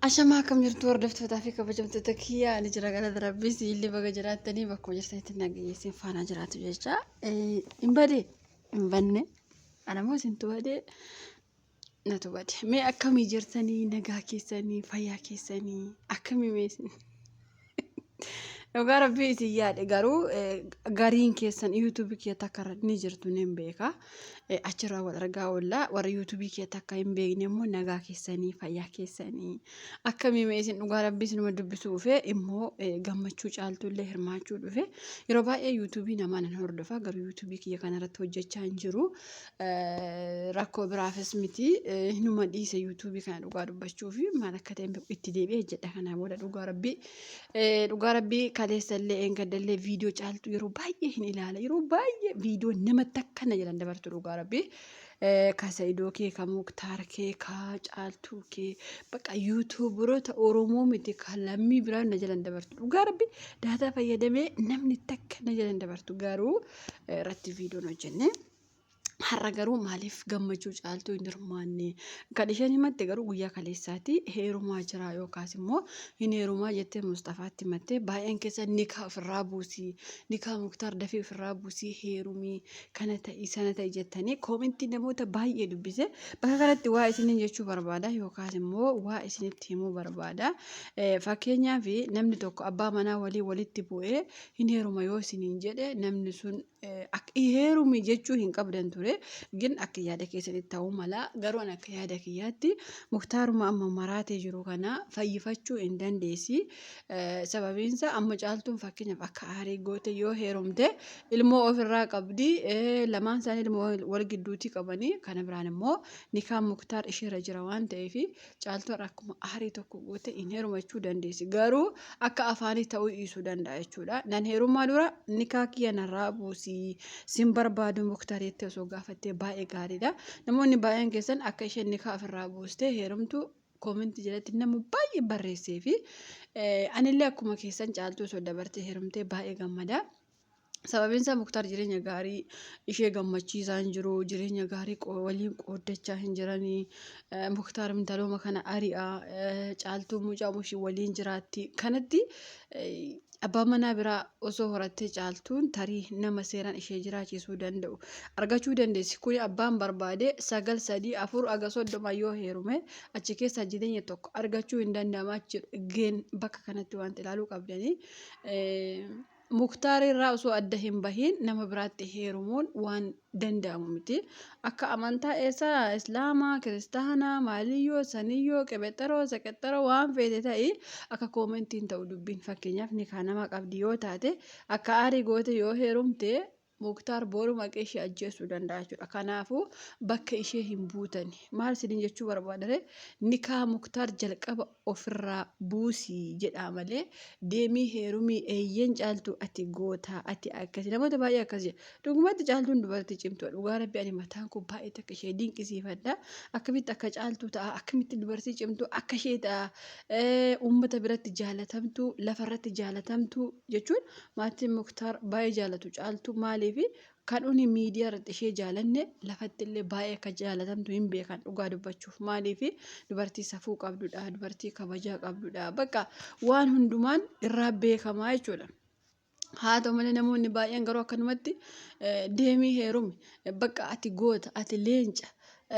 Ashamaa akkam jirtu hordoftootaa fi kabajamtoota kiyya ani jira galata rabbii siillee baga jiraattanii bakkuma jirtanitti nagayyeessin faanaa jiraatu jecha hin bade hin banne anamoo isintu bade natu bade mee akkamii jirtanii nagaa keessanii fayyaa keessanii akkamii mee isin Dhugaa rabbii isin yaade garuu eh, gariin keessan yuutuubii kee takka irra ni jirtu nin beeka. Eh, Achirraa wal argaa oolla warri yuutuubii kee takka hin beekne immoo nagaa keessanii fayyaa keessanii akkamii mee isin dhugaa rabbii isinuma dubbisuu dhufe immoo eh, gammachuu caaltuu illee hirmaachuu dhufe yeroo baay'ee yuutuubii namaa nan hordofa garuu yuutuubii kiyya kanarratti hojjechaa hin jiru Rakkoo biraafis miti hinuma dhiise yuutuubii kana dhugaa dubbachuu fi maal akka ta'e itti deebi'ee hojjedha kanaa booda dhugaa rabbii dhugaa rabbii kaleessallee eengaddallee viidiyoo caaltu yeroo baay'ee hin ilaala yeroo baay'ee viidiyoo namatti akkana jedhan dabartu dhugaa rabbii kasa idoo kee ka muktaar kee ka caaltuu kee baqa yuutuuburoota oromoo miti ka lammii biraa na jalan dabartu dhugaa rabbii daataa fayyadamee namni takka na jalan dabartu garuu irratti viidiyoon hojjennee. Har'a garuu maaliif gammachuu caaltuu hin hirmaanne? Kan isheen himatte garuu guyyaa kaleessaati heerumaa jiraa yookaas immoo hin heerumaa jettee Mustafaatti himattee baay'een keessa nikaa ofirraa buusii nikaa muktaar dafii ofirraa buusii heerumii kana ta'i sana ta'i jettanii koomentii namoota baay'ee dubbise bakka kanatti waa isiniin jechuu barbaada yookaas immoo waa isinitti himuu barbaada fakkeenyaaf namni tokko abbaa manaa walii walitti bu'ee hin heeruma yoo isiniin jedhe namni sun Ak heerumi jechuu hin qabdan ture gin akka yaada keessanitti ta'uu mala garuu an akka yaada kiyyaatti muktaaruma amma maraatee jiru kana fayyifachuu hin dandeessi sababiinsa amma caaltuun fakkeenyaaf akka aarii goote yoo heerumte ilmoo ofirraa qabdi lamaan isaanii ilmoo wal gidduutii qabanii kana biraan immoo nikaan muktaar isheerra jira waan ta'eef Caaltuu har'a akkuma aarii tokko goote hin heerumachuu dandeessi. Garuu akka afaanii ta'uu dhiisuu danda'a jechuudha. Nan heerumaa dura nikaa kiyya narraa buusii sin barbaadu muktareetti osoo gaafattee baay'ee gaariidha. Namoonni baay'een keessan akka isheen nikaa ofirraa buustee heerumtu koominti jalatti nama baay'ee barreessee fi anillee akkuma keessan caaltuu osoo dabartee heerumtee baay'ee gammada. Sababiin isaa Muktaar jireenya gaarii ishee gammachiisaa hin jiru. Jireenya gaarii qo- waliin qooddachaa hin jirani. Eh, Muktaar intalooma kana ari'a. Eh, Caaltuu mucaa mushii waliin jiraatti. Kanatti eh, abbaan manaa biraa osoo horattee caaltuun tarii nama seeraan ishee jiraachisuu danda'u argachuu dandeessi. Kuni abbaan barbaade sagal sadii afur haga soddoma yoo heerume achi keessaa jireenya tokko argachuu hin danda'ama jechuudha. Geen bakka kanatti wanti ilaaluu qabdanii. Eh, Muktaar irraa osoo adda hin bahiin nama biraatti heerumuun waan danda'amu miti. Akka amantaa eessaa Islaamaa, Kiristaanaa, Maaliyyoo, Saniyyoo, Qebexaroo, Seqexaroo waan feete ta'i akka koomentiin ta'u dubbiin fakkeenyaaf nikaa nama qabdi yoo taate akka aarii goote yoo heerumte Muktar boru maqee ishee ajjeesuu danda'a jechuudha. Kanaafuu bakka ishee hin buutani. Maal isiniin jechuu barbaadare nikaa muktaar jalqaba ofirraa buusii jedhaa malee deemii heerumii eeyyeen caaltuu ati gootaa ati akkasi namoota baay'ee akkas jedha. Dhugumatti caaltuun dubartii cimtuudha. Dhugaa rabbi ani mataan koo baay'ee takka ishee dinqisiifadha. Akkamitti akka caaltuu ta'a akkamitti dubartii cimtuu akka ishee ta'a uummata biratti jaalatamtuu lafarratti jaalatamtuu jechuun Maatiin Muktaar baay'ee jaalatu Caaltuu maaliif kan uni miidiyaa irratti ishee jaalanne lafatti illee baay'ee akka jaalatamtu hin beekan dhugaa dubbachuuf maaliif dubartii safuu qabdudha dubartii kabajaa qabdudha bakka waan hundumaan irraa beekamaa jechuudha. Haa ta'u malee namoonni baay'een garuu akkanumatti eh, deemii heerumi Eh, bakka ati goota ati leenca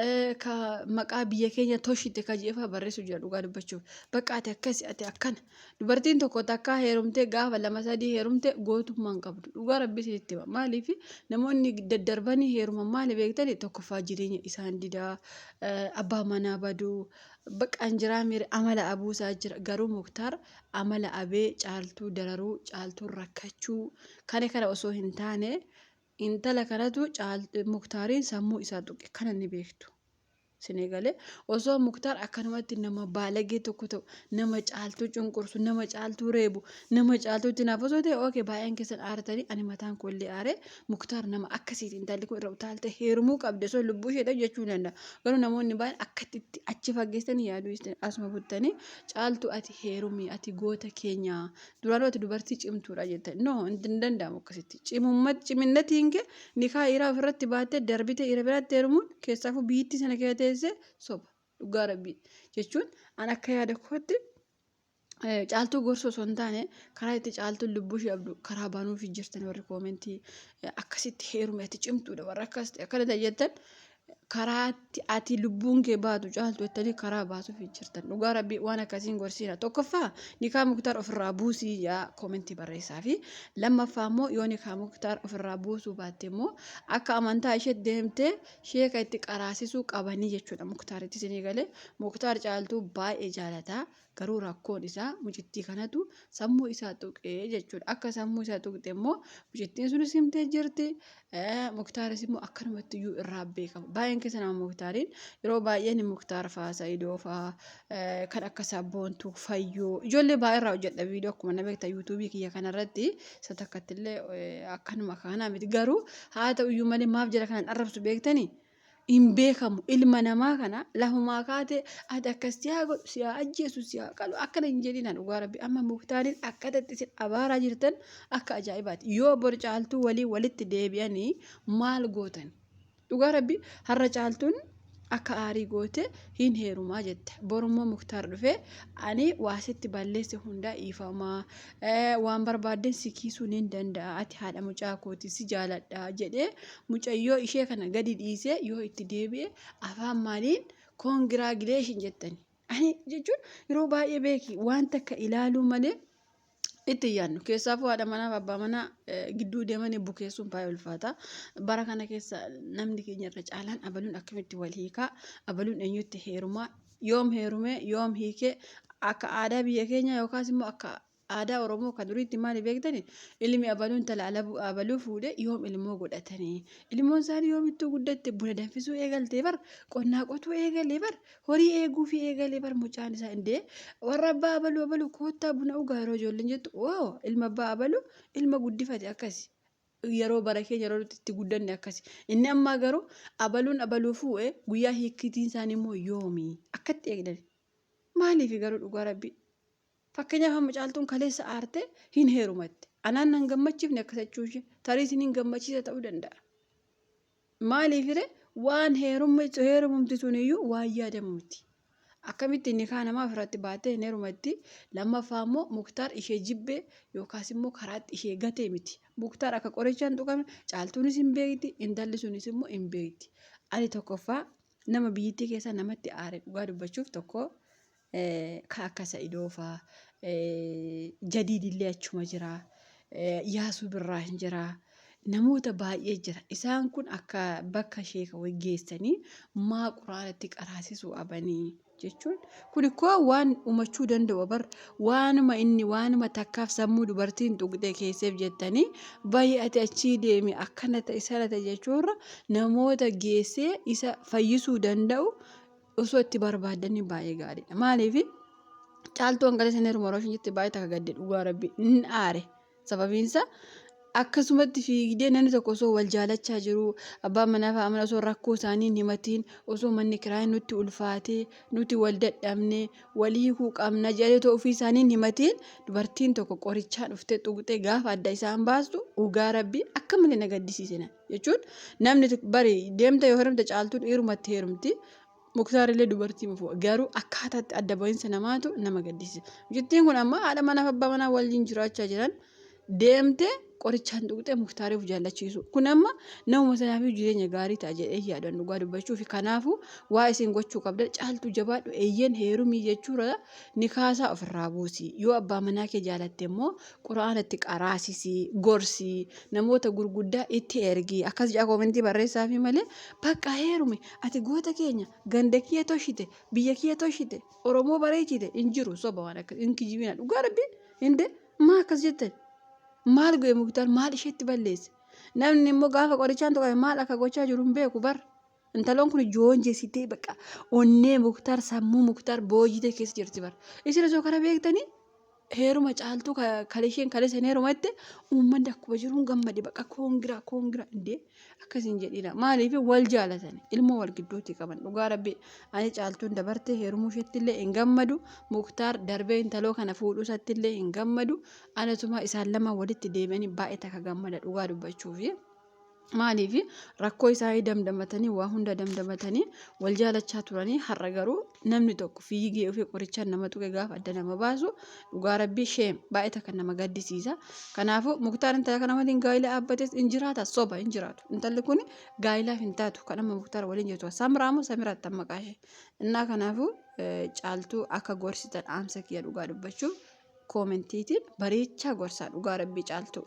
eh, ka maqaa biyya keenya toshite ka jeefaa barreessu jira dhugaa dubbachuuf bakka ati akkasi ati akkana Dubartiin tokko takkaa heerumtee gaafa lama sadii heerumte gootummaa hin qabdu. Dhugaa rabbi isinitti hima. Maaliif namoonni daddarbanii heeruman maali beektani tokkoffaa jireenya isaan didaa abbaa manaa baduu baqaan jiraa miira amala abuusaa jira. Garuu muktaar amala abee caaltuu dararuu caaltuu rakkachuu kana kana osoo hin taane intala kanatu muktaariin sammuu isaa tuqe kana ni beektu. Sin egale osoo muktaar akkanumatti nama baalagee tokko ta'u nama caaltuu cunqursu nama caaltuu reebu nama caaltuu itti naaf osoo ta'e ookee baay'een keessan aartanii ani mataan koo illee aaree muktaar nama akkasiiti intalli kun irra utaaltee heerumuu qabdi osoo lubbuu ishee ta'u jechuu danda'a garuu namoonni baay'een akkatti itti achi fageessanii yaaduu dhiistanii asuma buttanii caaltuu ati heerumii ati goota keenyaa duraanuu ati dubartii cimtuudha jettan no hin danda'amu akkasitti cimummat ciminnatiin kee Nikaa dhiiraa ofirratti baattee darbitee dhiira biraatti heerumuun keessaafuu biyyittii sana keessa teessee soba. Dhugaa rabbii. Jechuun an akka yaada kootti caaltuu gorsuu osoo hin taane karaa itti caaltuun lubbuu ishee abdu karaa banuufi jirtan warri koomentii akkasitti heerumatti cimtuudha warra akkas ta'e akkana ta'e jettan karaa ati lubbuun kee baatu caaltu jettanii karaa baasuuf jirtan dhugaa rabbii waan akkasiin gorsiina tokkoffaa nikaa muktaar ofirraa buusii yaa koomentii barreessaa fi lammaffaa immoo yoo nikaa muktaar ofirraa buusuu baatte immoo akka amantaa ishee deemtee sheeka itti qaraasisuu qabanii jechuudha muktaaritti isinii galee muktaar caaltuu baay'ee jaalataa Garuu rakkoon isaa mucittii kanatu sammuu isaa tuqe jechuudha. Akka sammuu isaa tuqxe immoo mucittiin sunis himtee jirti. Muktaaris immoo akkanumatti iyyuu irraa beekama. Baay'een keessa nama muktaariin yeroo baay'een muktaar faa sa'idoo faa kan akka sabboontuu fayyoo ijoollee baay'ee irraa hojjedha viidiyoo akkuma na beekta yuutuubii kiyya kanarratti isa takkatti illee akkanuma kanaa miti garuu haa ta'u iyyuu malee maaf jala kanan arrabsu beektanii hin beekamu ilma namaa kana lafumaa kaate ati akkas si haa godhu si haa ajjeesu si haa qalu akkana hin jedhina dhugaa rabbi amma muktaariin akkata itti isin abaaraa jirtan akka ajaa'ibaati yoo bor caaltuu walii walitti deebi'anii maal gootan dhugaa rabbi har'a caaltuun akka aarii goote hin heerumaa jette borummoo muktaar dhufee ani waasitti balleesse hundaa iifamaa waan barbaaddeen si kiisuu nin danda'a ati haadha mucaa kooti si jaaladha jedhee mucayyoo ishee kana gadi dhiisee yoo itti deebi'e afaan maaliin koongiraagileeshin jettani ani jechuun yeroo baay'ee beeki wanta akka ilaaluu malee itti hin yaadnu keessaafuu haadha manaaf abbaa manaa eh, gidduu deemanii bukeessuun baay'ee ulfaata bara kana keessa namni keenya irra caalaan abaluun akkamitti wal hiikaa abaluun eenyutti heerumaa yoom heerume, yoom hiike, akka aadaa biyya keenyaa yookaas immoo akka aadaa Oromoo kan duriitti maali beektani? Ilmi abaluu intala alabuu abaluu fuudhe yoom ilmoo godhatani? Ilmoon isaanii yoomittuu guddatte buna danfisuu eegalte bar, qonnaa qotuu eegale bar, horii eeguufii eegale bar mucaan isaa indee warra abbaa abaluu abaluu koottaa buna ugaa yeroo ijoolleen jettu oo ilma abbaa abaluu ilma guddifate akkasi. yeroo bara keenya yeroo nuti itti guddanne akkasi. Inni ammaa garuu abaluun abaluu fuudhe guyyaa hiikkiitiin isaanii immoo yoomi akkatti eegdan. Maaliif garuu dhugaa rabbi fakkeenyaaf amma caaltuun kaleessa aarte hin heerumatte. Anaan nan gammachiifne akkasachuu ishee tarii isiniin gammachiisa ta'uu danda'a. Maaliifire waan heerumma jechuun heerumumti suniyyuu waan yaadamu miti. Akkamitti nikaa namaa ofirratti baattee hin heerumatti lammaffaa immoo muktaar ishee jibbee yookaas immoo karaatti ishee gatee miti. Muktaar akka qorichaan tuqame caaltuunis hin beekti intalli sunis immoo hin beekti. Ani tokkoffaa nama biyyittii keessa namatti aare dhugaa dubbachuuf tokko Ka akka Sa'idoo faa. Jadiid illee achuma jira. Yaasuu Birraa hin jira. Namoota baay'ee jira. Isaan kun akka bakka sheeka wayii geessanii maa quraanatti qaraasisuu abanii jechuun kun ikkoo waan umachuu danda'u bar waanuma inni waanuma takkaaf sammuu dubartiin tuqxee keesseef jettanii baay'ate achii deemi akkana ta'e sana ta'e jechuurra namoota geessee isa fayyisuu danda'u Osoo itti barbaaddanii baay'ee gaariidha. Maaliif caaltuu hanqala isin heeruma rooshin jettee baay'ee takka gadde dhugaa rabbi hin aare. Sababiinsa akkasumatti fiigdee namni tokko osoo wal jaalachaa jiruu abbaan manaa fi amana osoo rakkoo isaanii hin himatiin osoo manni kiraa nutti ulfaatee nuti wal dadhabne wal hiikuu qabna jedhanii otoo ofii isaanii hin himatiin dubartiin tokko qorichaa dhuftee xuqxee gaafa adda isaan baastu dhugaa rabbi akka malee na gaddisiise. jechuun namni bari deemta yoo heerumte caaltuun dhiirumatti heerumti muktaarillee dubartii mufu garuu akkaataatti adda bahinsa namaatu nama gaddisiisa mucittiin kun amma haadha manaaf abbaa manaa waliin jiraachaa jiran deemte qorichaan tuqxee muktaariif jaallachiisu kun amma nama sanaafii jireenya gaarii ta'a jedhee yaadan dhugaa dubbachuu fi kanaafuu waa isin gochuu qabda caaltuu jabaadhu eeyyeen heerumii jechuudha ni kaasaa ofirraa buusii yoo abbaa manaa kee jaalatte immoo Qur'aana itti qaraasisi, gorsi, namoota gurguddaa itti ergi. Akkas jedha koomentii barreessaafi malee bakka heerumi ati goota keenya ganda kiyya toshite biyya kiyya toshite Oromoo bareechite hin jiru soba waan akkas hin kijibina dhugaa rabbi hinde maa akkas jettan maal go'e muktar maal isheetti balleesse namni immoo gaafa qorichaan tuqame maal akka gochaa jiru hin beeku bar Intaloon kun joonjesitee baqa onnee muktar sammuu muktar boojitee keessa jirti bar. Isin osoo kana beektanii heeruma caaltuu kalisheen kalisen heeruma itti uummanni akkuma jiruun gammade baqa koongiraa koongiraa indee akkasiin jedhiina. Maaliif wal jaalatani ilmoo wal gidduutti qaban dhugaa rabbi ani caaltuun dabartee heerumuu isheetti illee hin gammadu muktaar darbee intaloo kana fuudhuu isatti illee hin gammadu anatumaa isaan lama walitti deebi'anii baay'ee takka gammada dhugaa dubbachuufi. Maaliif rakkoo isaanii damdamatanii waa hunda damdamatanii wal jaalachaa turanii har'a garuu namni tokko fiigee ofii qorichaan nama tuqe gaafa adda nama baasu dhugaa rabbii sheem baay'ee takka nama gaddisiisa. Kanaafuu muktaar intala kana waliin gaa'ila dhaabbates hin jiraata soba hin jiraatu. Intalli kun gaa'ilaaf hin taatu kan amma muktaar waliin jirtu samiraa moo samiraatti amma qaashee. Innaa kanaafuu caaltuu akka gorsitan dhaamsa kiyya dhugaa dubbachuuf koomentiitiin bareechaa gorsaa dhugaa rabbii caaltuu.